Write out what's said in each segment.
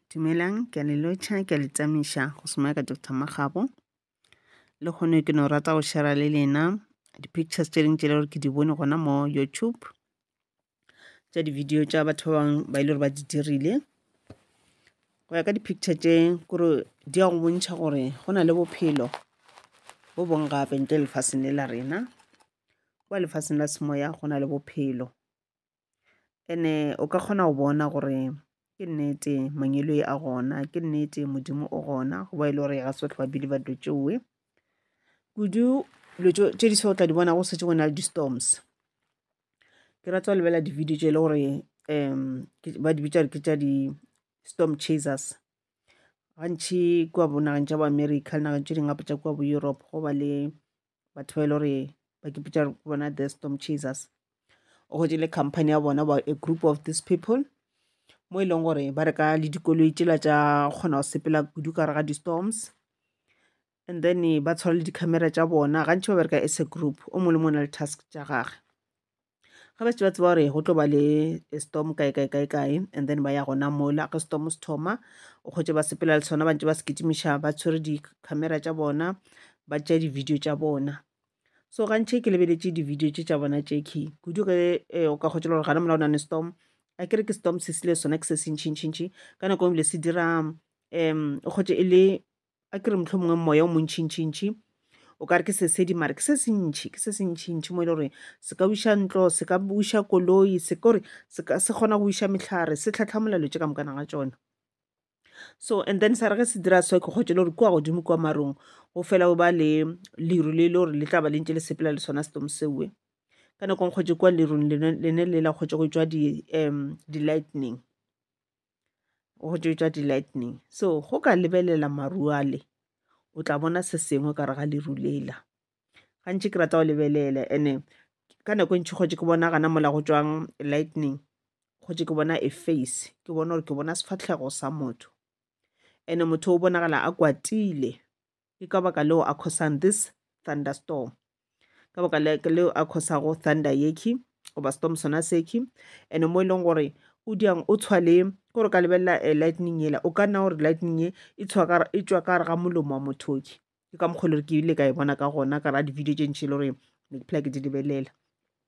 Dumelang, ke a le lotšha, ke a le tamiša go šoma ya ka Doctor Makgabo. Le kgone ke no rata go share le lena di-pictures tše dingwe tše le gore ke di bone gona mo YouTube tša di-video tša batho ba bangwe ba e le gore ba di dirile. Go ya ka di-picture tše kore di ya go bontšha gore go na le bophelo bo bong gape ntle lefaseng le la rena. Kwa lefaseng la semoya go na le bophelo. ene o ka kgona go bona gore ke nnete mangelo e a gona ke nnete modimo o gona go ba e le gore ga se tlhoa bile ba dilo tšeoe kudu dilo tše di so tla di bona go setse go na le di-storms ke rata go lebelela di-video tše e le gore um ba di bitsa re ke tša di-storm chasers gantšhi kua bonageng tša bo america le nageng tše dingwe gape tša kua bo europe go ba le batho ba e le gore ba ke pitša bona the storm chasers o gotše le company ya bona about a group of these people mo e leng gore ba reka le dikoloi tšela tša kgona go sepela kudu ka gare ga di-storms and then ba tshwara le di-camera tša bona gantši ba bereka as a group o mongwe le mongwe na le task tša gage ga ba šetše ba tseba gore go tlo ba le storm kae kae kae kae and then ba ya gona mola ge storm se thoma o kgwetše ba sepela le sona ba ntse ba se kitimiša ba tshwere di-camera tša bona ba tšea di-video tša bona so gantšhe ke lebeletše di-video tše tša bona tše key kudu ge eh, o ka kgwetše le gore gana mola o nane storm a kere ke storm se sile sona ke se sentšhintšhintšhi ka nako e ebile se dira um o kgwetše e le a ke re motlho mongwe moya o montšhintšhintšhi o ka re ke sesedi mare ke se sentšhi ke se sentšhintšhi mo e le gore se ka buša ntlo se ka buša koloi se kore se kgona go buša metlhare se tlhatlhamola lotse ka mokana ga tsone so and then sa re ge se dira so ke kgotse le gore kua godimo kua marong go fela go ba le leru le e le gore le tla ba le ntse le sepela le sona setomo seoe ka nakong kgotse kua lerung lene le la kgotse go tswa di-lightning um go tšwetša di-lightning so go ka lebelela maru ale o tla bona se sengwe ka re ga leru lela gantši ke rata go lebelela and-e ka nako e ntšhi kgotse ke bona gana mola go tswang lightning kgotse ke bona e face ke bona gore ke bona sefahlego sa motho and-e motho o bonagala a kwatile. Ke ka baka leo a khosang this thunderstorm. Ka baka leo a khosago thunder yekhi goba storm sona sekhi ene mo e leng gore o diang o tshwa le ko re ka lebelela eh, lightning yela o ka nna gore lightning e e tshwa ka e tswa ka re ga molomo wa mothoki ke ka mokgwa e le gore ke ile ka e bona ka gona ka ra di-video tše ntši e le gore ne ke phela ke di lebelela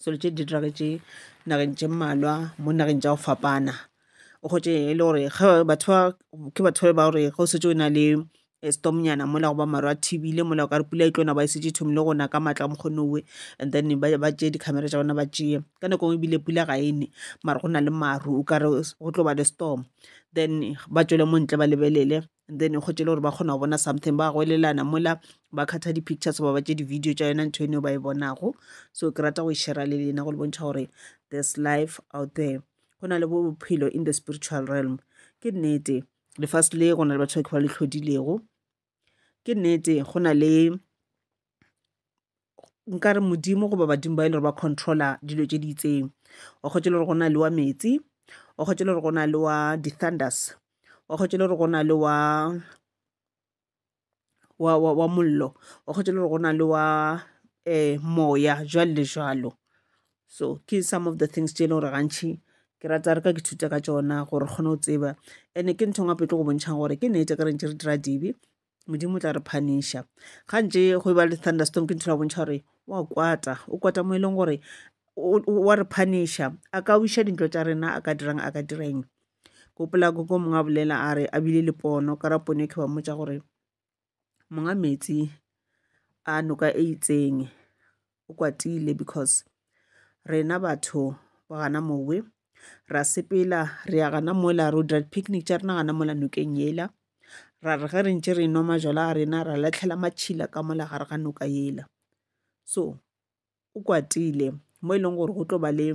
selo tše di diragetše nageng tše mmalwa mo nageng tša go fapana o kgotše e le gore ge batho ba ke batho ba gore ge o setse o na le storm nyana mola goba maru a thibile mola o ka re pula e tlo na ba e šetše e thomile go na ka maatla a mokgone owe and then ba ba tšeye di-camera tša bona ba tšeye ka nako e nngwe ebile pula ga e ne mara go na le maru o ka re go tlo ba le storm then ba tšwele mo ntle ba lebelele and then go tšele gore ba kgona go bona something ba goelelana mola ba khatha di-pictures ba ba tše di-video tša yona ntho eno ba e bonago so ke rata go e shera le lena go le bontšha gore there's life out there go na le bophelo in the spiritual realm ke nnete lefase le go na le batho ba ke ba le tlhodilego ke nnete go na le nka re modimo goba badimo ba e le gore ba controla dilo tše di itseng wa kgotse le gore go na le wa metsi wa kgotse le gore go na le wa di-thunders wa kgotse le gore go na le wa wa wa wa mollo wa kgotse le gore go na le wa um moya jwalo le jwalo so ke some of the things tše e le gore gantšhi ke rata re ka ke thuta ka tšona gore kgone go tseba and-e ke ntho ya gape e tlo go bontšhang gore ke nnete ke re ntše re dira dibe modimo o tla re phaniša ga ntse go e ba le thunderstorm ke ntho la bontšha gore wa kwata o kwata mo e leng gore wa re phaniša a ka wiša dintlo tša rena a ka dirang a ka direng gopola ko ko mongwe a bolela a re a bile le pono ka ra pono e ke ba mmotsa gore monga metsi a noka e itseng o kwatile because rena batho ba gana mowe ra sepela re ya gana mola ro dira picnic tša rena gana mola nokeng yela ra re ge re ntše re nwa majwala a rena ra latlhela matšhila ka mola gare ga noka yela so o kwatile mo e leng gore go tlo ba le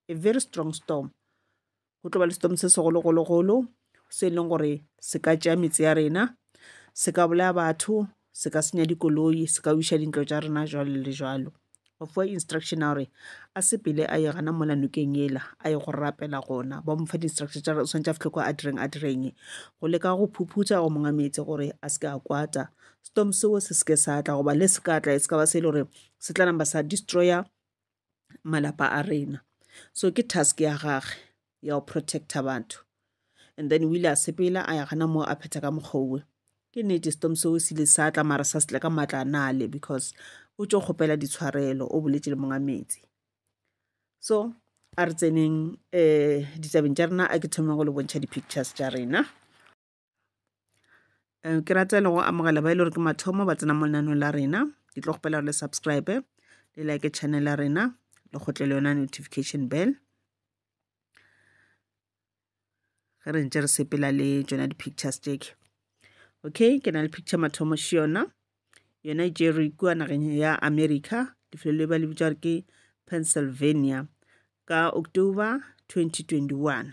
a very strong storm Go tlo ba le setomo se segologologolo se e leng gore se ka tšea metse ya rena, se ka bolaya batho, se ka senya dikoloi, se ka wiša dintlo tša rena jwalo le jwalo. Ba fiwa instruction ya gore a sepele a ye gana mola nokeng yela a ye go rapela gona. Ba mo fa di-instruction tša gore o swanetše a fihle kwa a direng a dire eng, go leka go phuphutha go monga metse gore a se ke a kwata setomo seo se se ke sa tla goba le se ka tla e se ka ba se e le gore se tla namba sa destroyer malapa a rena so ke task ya gage ya go protecta batho and then o ile a sepela a ya gana moo a phetha ka mokgowe ke nete stom seo se ile sa tla mara sa se tla ka maatla a nale because o tšo kgopela ditshwarelo o boletše le monga metsi so a re tseneng um ditabeng tša rena a ke thomeng go le bontšha di-pictures tša rena Eh, ke rata le go amogela ba e le gore ke mathomo ba tsena mo lenanong la rena ke tlo kgopela gore le subscribe le like channel ya rena le kgotle le yona notification bell ge re ntse re sepela le tsona di-pictures tseke okay ke na le picture mathomo še yona yona e tšere kua nageng ya america lefelo le ba le bitsa gore ke pennsylvania ka october 2021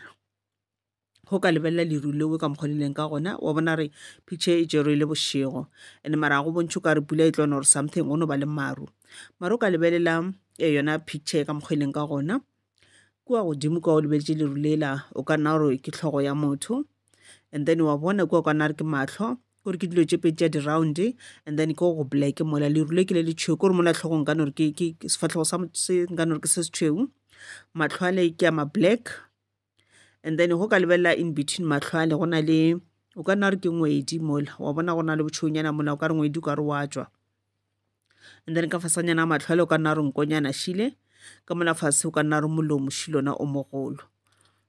go ka lebelela leru leo ka mokgwa le leng ka gona wa bona re picture e tšerwe le bošego and mara go bontšhe ka re pula e tlona or something go no ba le maru mara o ka lebelela eh, yona picture e ka mokgwa e leng ka gona kua godimo kua o lebeletše leru lela o ka nna gore ke tlhogo ya motho and then wa bona kua ka nna re ke matlho gore ke dilo tše pedi tša di-round and then ke go black mola leru le ke le le tšhweu kore mola tlhogo nka nore ke sefatlhogo sa nka nore ke se se tšhweu matlho a le ke a ma black and then go ka lebelela in between matlhwale go na le o ka nna re ke ngwedi mola wa bona go na le botšhonyana mola o ka re ngwedi o ka re wa tswa and then ka fasanyana a matlhwale o ka nna re nkonyana šile ka mola fase o ka nna re molomo šilona o mogolo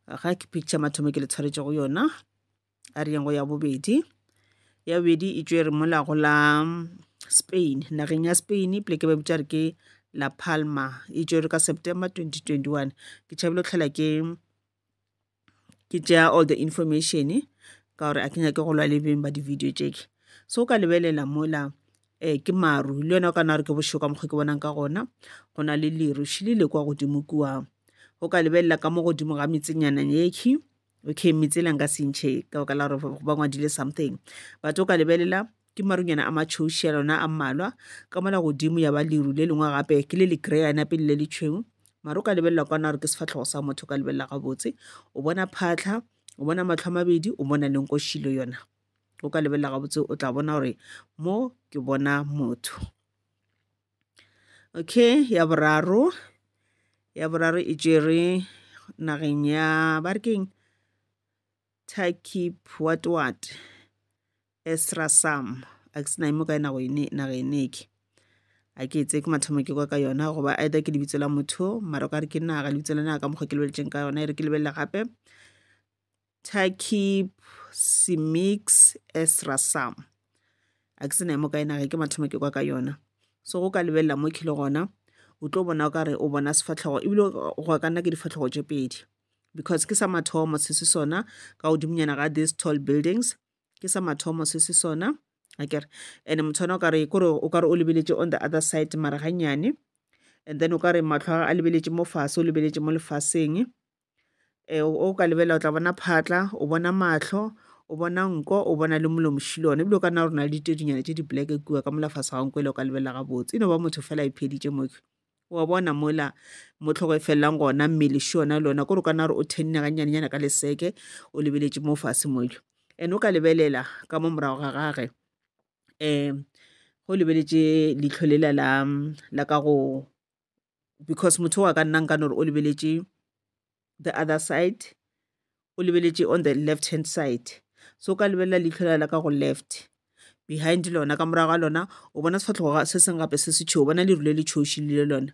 ga ke picture mathomo ke le tshwaretse go yona a re yeng go ya bobedi ya bobedi e tšwe re mola go la spain nageng ya spain pleke ba bitša re ke la palma e tšwe re ka september 2021 ke tšhabile go tlhela ke ke tšea all the information ka gore a ke nyake go lwa le beng ba di-video tšeke so ka lebelela mola um ke maru le yona o ka na gore ke bošego ka mokgwa ke bonang ka gona go na le leruši le le kwa godimo kua o ka lebelela ka mo godimo ga metsenyanang yekhi okay metsela nka sentšhe ka baka la gore ba ngwadile something but o ka lebelela ke marunyana a matšhoušia lona a mmalwa ka mola godimo ya ba leru le lengwe gape ke le le greyana pele le le tšhweu mare o ka lebelela kwana gore ke sefatlhogo sa motho o ka lebelela gabotse o bona phatlha o bona matlho a mabedi o bona le nkošilo yona o ka lebelela gabotse o tla bona gore mo ke bona motho Okay, ya boraro. Ya boraro e tšere nageng ya ba re keng Turkey what what Esrasam a ke se na e mo kae nago ene naga ene ke a ke etse ke mathomo ke kwa ka yona goba either ke lebitso la motho mara o ka re ke naga lebitso la naga ka mokgwa ke lebeletseng ka yona e re ke lebelele gape Takib Simix Esra Sam a ke se na mo kae nage ke mathomo ke kwa ka yona so go ka lebelela mo khile gona o tlo bona o ka re o bona sefatlhogo ebile go ka nna ke difatlhogo tše pedi because ke sa mathomo se se sona ka godimonyana ga these tall buildings ke sa mathomo se se sona a kere and motho ona o kare kore o kare o lebeletse on the other side mara gannyane and then o ka re matlho a lebeletše mo fase o lebeletše mo lefaseng e, o ka lebela o tla bona phatla o bona mahlo o bona nko o bona le molomo shilone ebile o ka nna gore na le ditedinyana tse di-black kua ka mola fase ga nko ele o ka lebelela gabotse e no ba motho fela e pheditše moke wa bona mola mo tlhogo e felelang gona mmele še yona le ona kore o ka nna gore o thenne gannyanenyana ka leseke o lebeletše mo fase mojo and o ka lebelela ka mo morago ga gage um go lebeletše leitlho lela la ka go because motho wa ka nna nka no re o lebeletše the other side o lebeletše on the left hand side so ka lebelela leitlho la la ka go left behind lona ka morago ga lona o bona sefatlhogo se seng gape se se tšhweu bona leru le le tšhoši le lona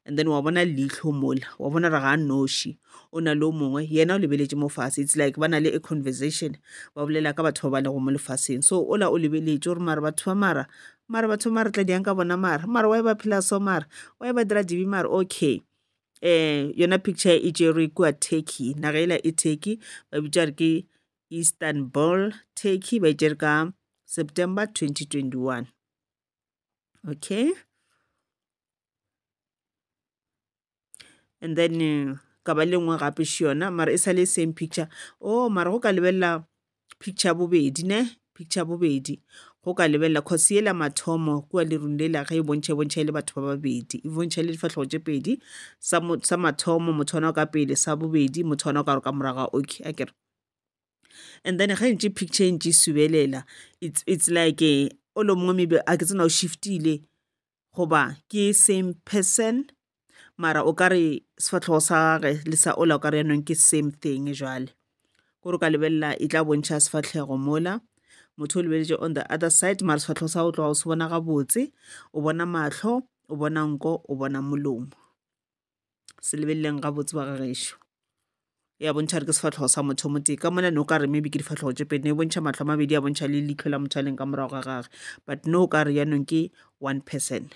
and then wa bona leitlho mola wa bona re ga noši o na le o mongwe yena o lebeletše mo fatshe it's like ba na le a conversation ba bolela ka batho ba ba lego mo lefatsheng so ola o lebeletše gore mara batho ba mara Mara batho mare tla diang ka bona mara mara wa e ba phela so mara wa e ba dira dibi mara okay um yona picture e tšerwe kua turkey naga ela e turkey ba bitša re ke istanbul turkey ba e tšere ka september 2021 okay and then eh, ka ba le nngwe gape še yona mara e sa le same picture o oh, mara go ka lebelela picture ya bobedi ne picture ya bobedi go ka lebelela cause yela mathomo kua lerung lela ge e bontšha e bontšha e le batho ba babedi e bontšha e le difatlhogo tše pedi sa mathomo motho ona o ka pele sa bobedi motho ona o ka re ka moraga okay a kere and then ge ntše picture e ntše e subelela it's, it's like eh, o lo mongwe maybe a ke tsena o shiftile goba ke same person mara o ka re sefatlhogo sa gage le sa ola o ka re yanong ke same thing jale kore o ka lebelela e tla bontšha sefatlhego mola motho o lebeletše on the other side mara sefatlhego sa go tloga o se bona gabotse o bona mahlo o bona nko o bona molomo se lebeleleng gabotse ba ga gešo ya bontšha re ke sefatlhogo sa motho mo tee ka mona ne o ka re maybe ke difatlhogo tše pedi ne e bontšha matlho a mabedi ya bontšha le leitlho la motho a leng ka morago ga gage but ne o ka re yanong ke one person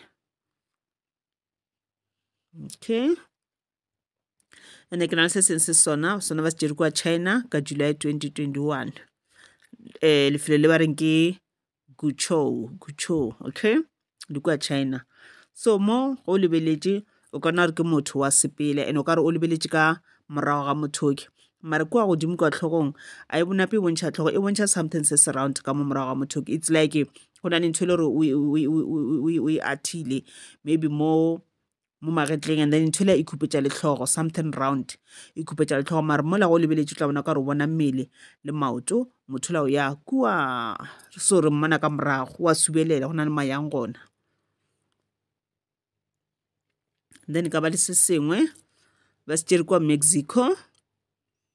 okay ande ke na le se seng se sona sona ba se jere kwa china ka july 2021 um eh, lefelo le ba reng ke Guchou, Guchou, okay? Di kwa China. So mo go lebeletše o ka na re ke motho wa sepele and o ka re o lebeletše ka morago ga mothoki mare kua godimo kwa tlhogong a e bonape e bontšha tlhogo e bontšha something se se round ka mo morago ga mothoki it's like go na le ntho e le gore o e athile maybe mo mo magetleng and then ntho le e khupetša letlhogo something round e khupetša letlhogo mare mola go lebeletše tla bona ka re o bona mmele le maoto motho la o ya kua so re mmona ka morago wa subelela go na le mayang gona then ka ba le se sengwe ba se tšere kwa mexico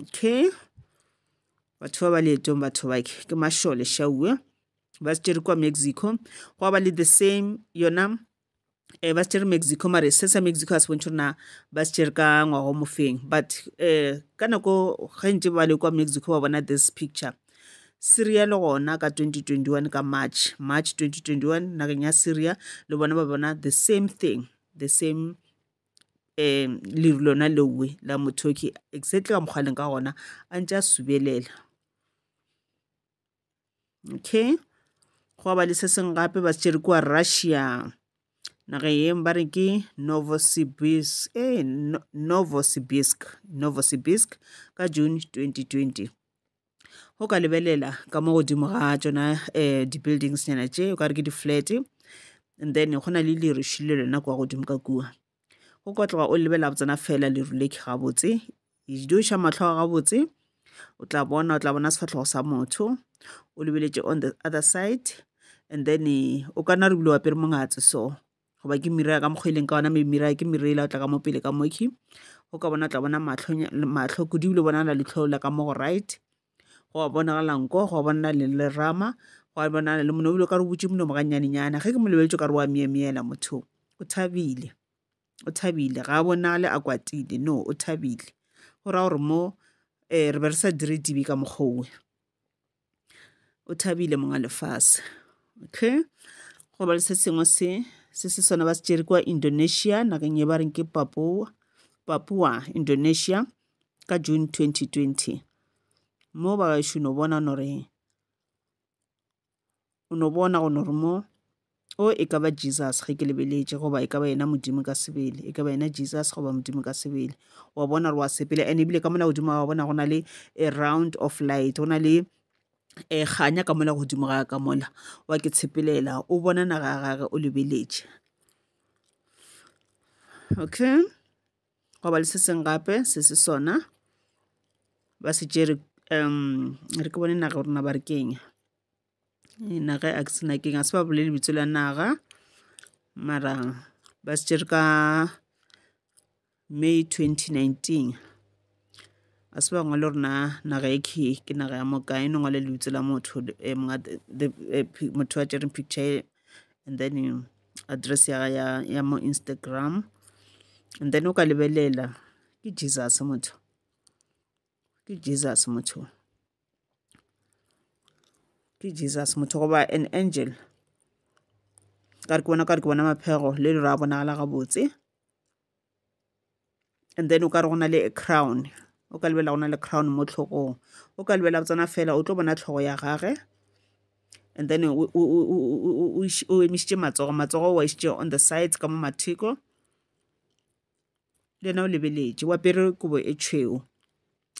okay batho ba ba leetong batho bake ke mašole šauwe ba se tšere kwa mexico go ba le the same yona um ba se tšere mexico mare se sa mexico a se bontšhe rena ba se tšere ka ngwago mofeng but um ka nako gantši ba le kwa mexico ba bona this picture syria le gona ka 2021 ka march march 2021 nageng ya syria le bona ba bona the same thing the same um leru lona leowe la mothoki exactly ka mokgwa leng ka gona a ntse a subelela okay go ba le se seng gape ba se kua russia naga yeng ba re ke novosibirsk ee novosibirsk novosibirsk ka june 2020 go ka lebelela ka mo godimo ga tšona um di-buildings nyana tše o ka re ke di-flat and then go na le leru le lona kwa godimo ka kua go ka tloga o lebelela go tsena fela leru le ke gabotse iša mahlo a gabotse o tla bona o tla bona sefahlego sa motho o lebeletše on the other side and then o ka na re bile wa pere mongatse so goba ke mira ya ka mokgwa e leng ka ona maybe mira ya ke mira ela o tla ka mo pele ka mokhwi go ka bona o tla bona matlho kudu ebile bonagala letlhoo la ka mo go right go a bonagala nko go a bonala le lerama go a bonala le mono ebile o ka re o butse monomo gannyanenyana ge ke mo lebeletse o ka re wa meemeela motho o thabile o thabile ga a bonale a kwatile no o thabile go raya gore mo um re be re sa dire dibe ka mokgwa owe o thabile monga lefase okay go ba le se sengwe se se se sona ba se tšere kwa indonesia nakeng ye ba reng ke papua papua indonesia ka june 2020 mo ba gaešono bona nore O no bona go no re mo, O, e ka ba Jesus, ge ke lebeletše, goba e ka ba yena Modimo ka sebele, e ka ba yena Jesus goba Modimo ka sebele. Wa bona re wa sepela, ene ebile ka mola godimo wa bona go na le a round of light, go na le e eh, ganya ka mola godimo ga ka mola wa ke tshepelela o bona naga ya gage o lebeletše okay go ba le se seng gape se se sona ba se tšere um re ke bone naga rona ba re kenya na ge a ke sena keng a se ba bolele lebitso la naga mara ba se tšere ka May 2019 a se ba ngwale gore na naga e khe ke naga ya moka e no ngwale lebitso la motho eh, monga the- the- eh, pi- motho a tšereng picture e, and then eh, address ya, ya, ya mo instagram and then o ka lebelela ke jesus motho ke jesus motho ke jesus motho goba an angel ka re ke bona ka re ke bona maphego le le ra bonagala gabotse and then o ka re go na le a crown o ka lebelela go na le crown mo tlhogong o ka lebelela tsena fela o tlo bona tlhogo ya gage and then o emisitše matsogo matsogo wa išitše on the sides ka mo matheko le yena o lebeletše wa pere kobo e tšhweo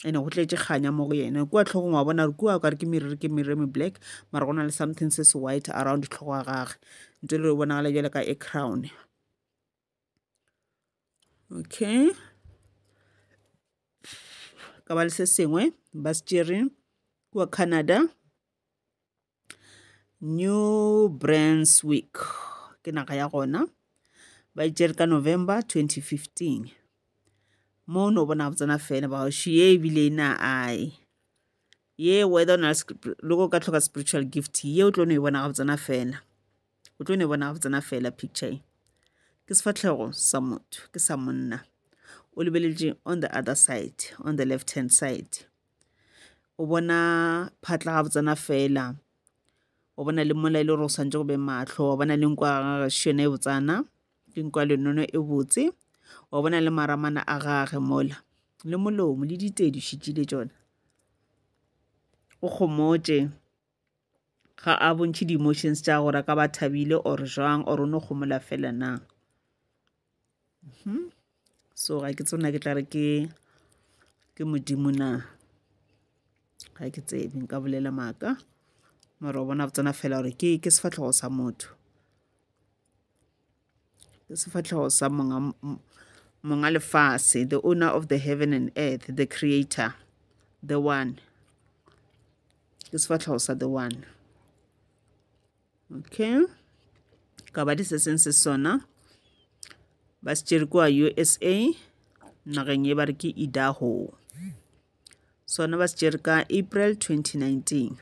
ene go tletse kganya mo go yena kua tlhogong wa bona gore kua o kare ke meriri ke meriri me black mara go na le something se se white around tlhogo ya gage ntse le bonagala jale ka e crown okay ka ba le se sengwe ba se tšere kua canada new brunswick ke naga ya gona ba itšere ka november 2015 mo no bona botsena fela ba she ye ebile e na ai ye whether na loko ka tlhoka spiritual gift ye o tlo no e bona ga botsena fela o tlo no e bona ga botsena fela picture e ke sefatlhego sa motho ke sa monna o lebeletše on the other side on the left hand side o bona phatla ga botsena fela o bona le mola e le gore o swantse go be matlho wa bona le nko ya gage se yone e botsana ke nko ya lenono e botse wa bona le maramana a gage mola le molomo le ditedi šitšile tšona o kgomotše ga a bontšhe di-emotions tša gore ka ba thabile or jwang or o no gomola fela na hmm? so ga ke tsona ke tla re ke ke modimo na ga ke tsebe nka bolela maaka mara o bona tsona fela gore ke ke sefatlhogo sa motho ke sefatlhego sa monga monga lefase the owner of the heaven and earth the creator the one ke sefatlhego sa the one okay ka ba di se seng se sona ba se tšere kwa usa nageng ye ba re ke idaho sona ba se tšere ka april 2019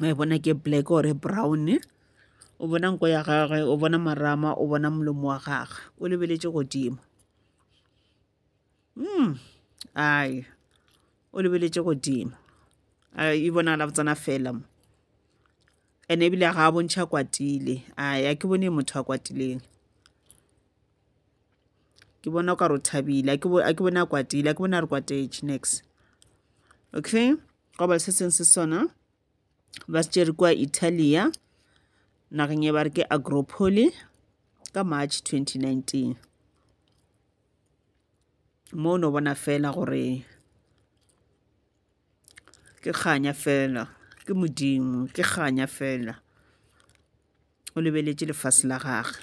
wa e bona ke black ore brown o bona nko ya gagwe o bona marama o bona molomo wa gagwe o lebeletše godimo mm ai o lebeletše godimo e bonagala botsana fela mo ene ebile ga a bontšha kwatile ai a ke bone motho a kwatileng ke bona o ka re o thabile a ke bone a kwatile a ke bone a re kwatetše next okay Gobal se seng se sona ba se tšere kwa Italia nageng e ba re ke Agropoli ka March 2019 mo no bona fela gore ke kganya fela ke modimo ke kganya fela o lebeletše lefase la gagwe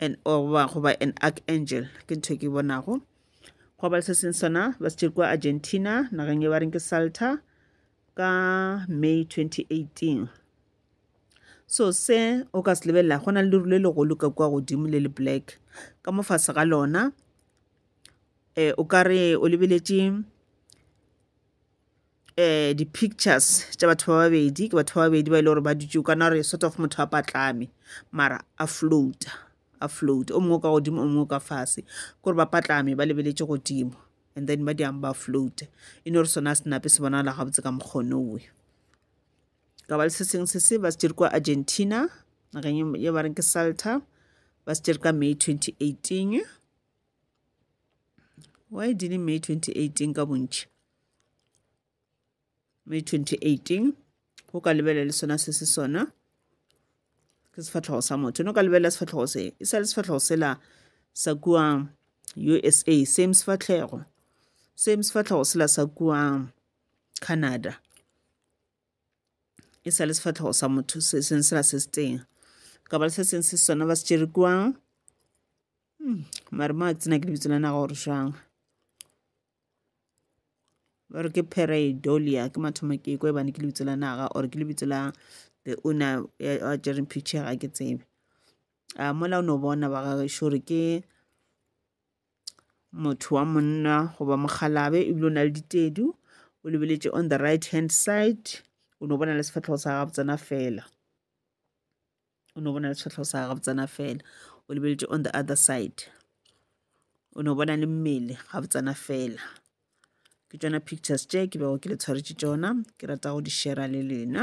and or ba go ba an archangel ke ntho ke bonago go ba le se seng sona ba se kwa argentina nageng e ba reng ke salta ka may 2018 so se o ka se lebelela go na le leru le legolo ka kwa godimo le le black ka mo fase ga lona um o ka re o lebeletše um di-pictures tša batho ba babedi ke batho ba babedi ba e le gore ba dutse o kana gore sort of motho a patlame mara a floata a float o mongwe ka godimo o mongwe ka fase kore ba patlame ba lebeletse godimo and then ba diang ba float e ne gore sona a senape se bonagala gabotse ka mokgonowe ka ba le se sengwe se se ba se dire kwa argentina nageng ye ba reng ke salta ba se dire ka may 2018 why didn't may 2018 ka bontšhi May 2018 go ka lebelela le sona se se sona ke sefatlhogo sa motho no ka lebelela sefatlhogo se e sa le sefatlhogo sela sa kua usa same sefatlhego same sefatlhogo sela sa kua canada e sa le sefatlhogo sa motho se seng sela se se teng ka ba le se seng se sona ba se tšere kua hmm, mare mo a ke tsena ke lebitso la naga gore jang ba re ke pareidolia ke mathomo ke kwa ebane ke lebitso la naga or ke lebitso la the owner a jereng picture ga ke tsebe a mola o no bona ba gagešo gore ke motho wa monna goba mokgalabe ebile o na le ditedu o lebeletše on the right hand side o no bona le sefatlhego sa gabotsena fela o no bona le tshwetlho sa ga botsana fela o lebeletse on the other side o no bona le mmele ga botsana fela ke tšona pictures tše ke bego ke le tshwaretše tšona ke rata go di shera le lena